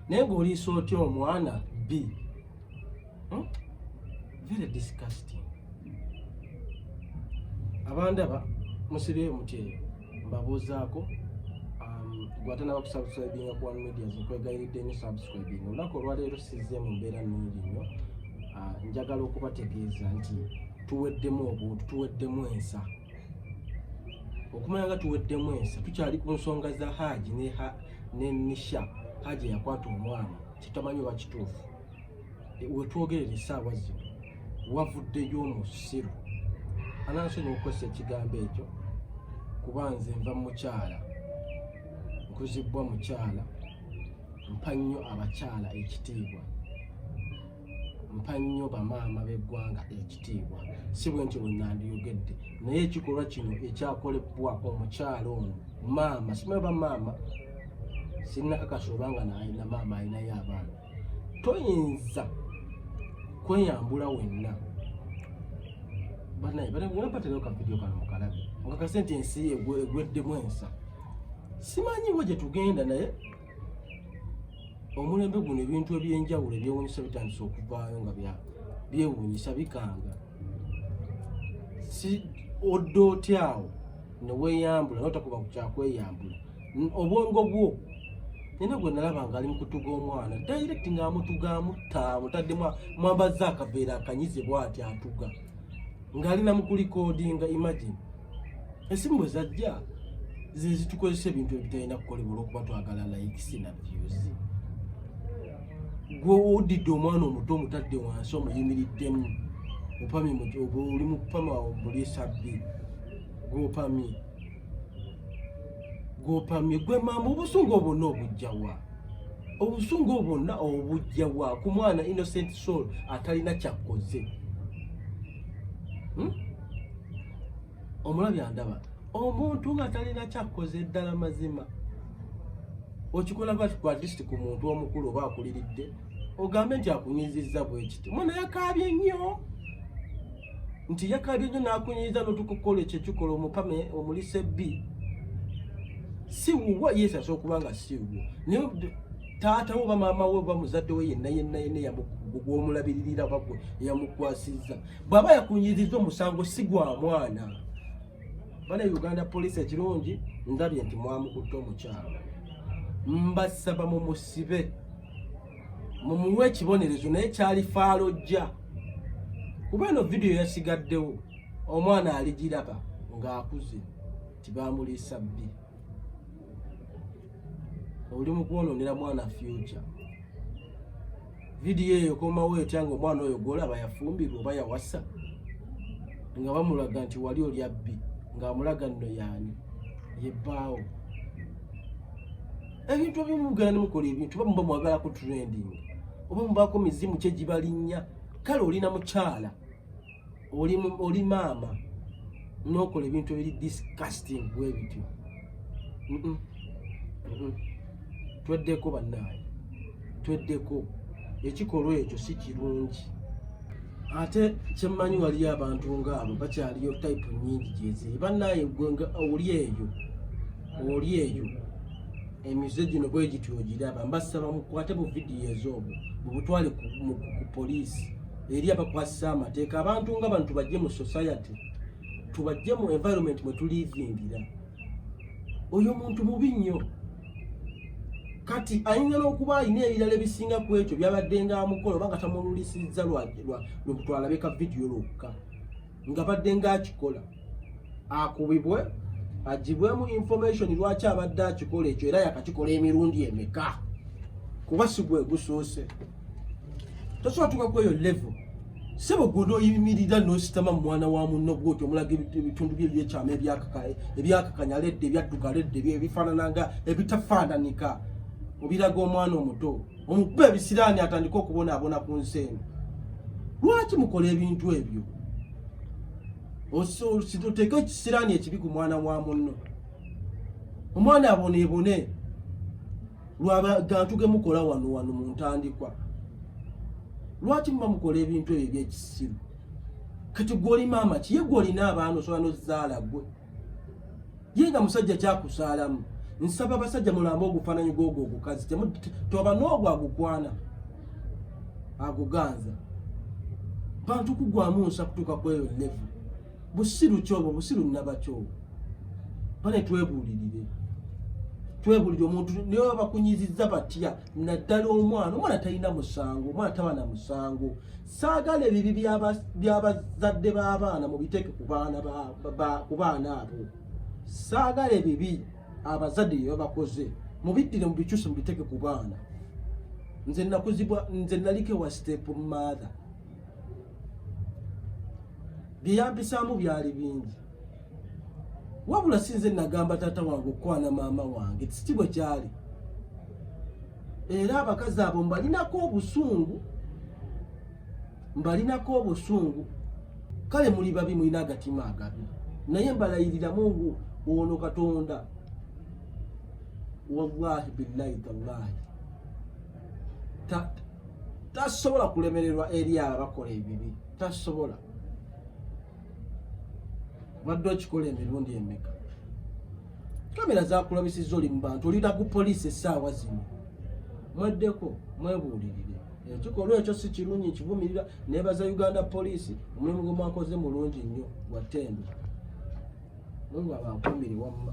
naye ng'oliisa otya omwana bbi hmm? very disgusting abandaba musibeyo mutyeyo mbabuuzaako um, gwate naba kusubscribinga ku one medias nkwegayiridde nyo subscribing olunaku olwaleero sizze mu mbeera nungi nyo uh, njagala okubategeeza nti tuweddemu obuntu tuweddemu ensa okumanya nga tuweddemu ensa tukyali ku nsonga za haaji ne nisha haaji yakwata omwana kitamanyi oba kituufu e, wetwogerera esaawa zino wavuddeyo omusiru anansonyi okukozesa ekigambo ekyo kuba nze nva mukyala nkuzibbwa mukyala mpa nnyo abakyala ekitiibwa mpa nnyo bamaama b'eggwanga ekitiibwa si bwe ntyo bwe nandiyogedde naye ekikolwa kino ekyakolebwa omukyalo ono maama simanyi ba maama sinnakakasa oba nga nalina maama alinayo abaana toyinza kweyambula wenna banaye banampatirayo kavidiyo kano mukalabe mukakase nti ensi egweddemu ensa simanyiwo gye tugenda naye omulembe guno ebintu ebyenjawulo ebyewunyisa bitandise okuvaayo nga byewunyisa bikanga si odda otyawo neweyambula notakuba kukyakweyambula obwongo bwo nina gwe nalaba nga ali mukutuga omwana direct nga amutuga amutta amutadde mwambazza akaveera akanyize bwati atuga ng'ali namukulikodinga imagine esimu bwe zajja ze zitukozesa ebintu ebitalina kukolebwa olwokuba twagala likes na views gwe odidde omwana omuto omutadde wansi omuyimiriddemu opami oli mukupama omuli sabbi gwopami gwopami gwe mama obusungu obwonna obujjawa obusungu obwonna obujjawa ku mwana innocent soul atalina kyakoze hmm? omulabi andaba omuntu nga talina kyakkoze eddala mazima okikola bati ku atist ku muntu omukulu oba akuliridde ogambe nti akunyizizza bwekiti mwana yakaabye nnyo nti yakaabye nnyo nakunyiza notukukola ekyo ekikola omukame omulisa ebbi si wuwo yesu asobola okuba nga si wuwo naye taata wo oba maama we oba muzadde we yenna yenna yenna gwomulabiririra oba gwe eyamukwasizza bwaba yakunyiriza omusango si gwa mwana bana uganda poliisi ekirungi ndabye nti mwamukutte omukyalo mbasaba mumusibe mumuwe ekibonerezo naye kyali faalojja kuba eno vidiyo yasigaddewo omwana aligiraba ng'akuze tibamuliisa bbi oli mukwononera mwana future vidiyo eyo komawo etya nga omwana oyo gwolaba yafumbirwa oba yawasa nga bamulaga nti wali olya bbi ngaamulaga nno yaani yebbaawo ebintu ebimu mugenda nemukola ebintu oba muba mwagalako trending oba mubaako mizimu kyegibalinnya kale olina mukyala oli oli maama n'okola ebintu ebiri disgusting bwe bityo tweddeko bannaaye tweddeko ekikolwa ekyo si kirungi ate kyemmanyi waliyo abantu ngaabo bakyaliyo type nyingi gyeziri bannaaye gwe nga oli eyo oli eyo emize gino bwe gityo ogiraba mbasaba mukwate bu vidiyo ez'obwo mubutwale ku poliisi eri abakwasisa amateeka abantu nga bantu bajje mu society tubajje mu environment mwe tulivingira oyo muntu mubi nnyo kati ayinza n'okuba alina ebirala ebisinga ku ekyo byabadde nga amukola oba nga tamululisizza lwakutwalabe ka vidiyo lwokka nga badde nga akikola akubibwe agibwemu information lwaki abadde akikola ekyo era yakakikola emirundi emeka kuba sigwe gusoose tosobola tuka kweyo level sebo gwe noyimirira nositama mumwana wa munno gwoti omulaga ebitundu bye byekyama ebyakakanya ledde ebyadduka ledde ebifaanana nga ebitafaananika obiraga omwana omuto omukube ebisiraani atandike okubonaabona ku nsi eno lwaki mukola ebintu ebyo oteeka ekisiraani ekibi ku mwana wa munno omwana aboneebone lwabagantu ge mukola wano wano mu ntandikwa lwaki muba mukola ebintu ebyo ebyekisiru kati gwoli maama kiye gwolina abaana osobola nozaala gwe ye nga musajja kyakusaalamu nsaba basajja mulamba ogufaananyi gwogwo ogukazi toba n'ogwo agukwana aguganza bantu kugwamu nsa kutuuka kweyo levu busiru kyobo busiru nabakyobo bane twebuulirire twebulire omuntu naye babakunyiziza batya naddala omwana omwana talina musango omwana taba na musango saagala ebibi byabazadde b'abaana mubiteeke ku baana abo saagala ebibi abazadde byebabakoze mubiddire mubikyuse mubiteeke ku baana nze nakuzibwa nze naliko ewa step mother byeyampisaamu byali bingi wabula sinze nagamba taata wange okukwana maama wange tikitibwe kyali era abakazi abo mbalinako obusungu mbalinako obusungu kale muli babi mulina agatima agabi naye mbalayirira mungu ono katonda wallahi billahi tallahi tasobola kulemererwa eri abakola ebibi tasobola wadde okikola emirundi emeka kamera zakulabisiza oli mubantu olira ku poliisi essaawa zino mweddeko mwebuulirire ekikolwa ekyo si kirungi nkivumirira nebaza uganda poliisi omulimu gwe mwakoze mulungi nnyo gwa tendo mungu abankumire wamma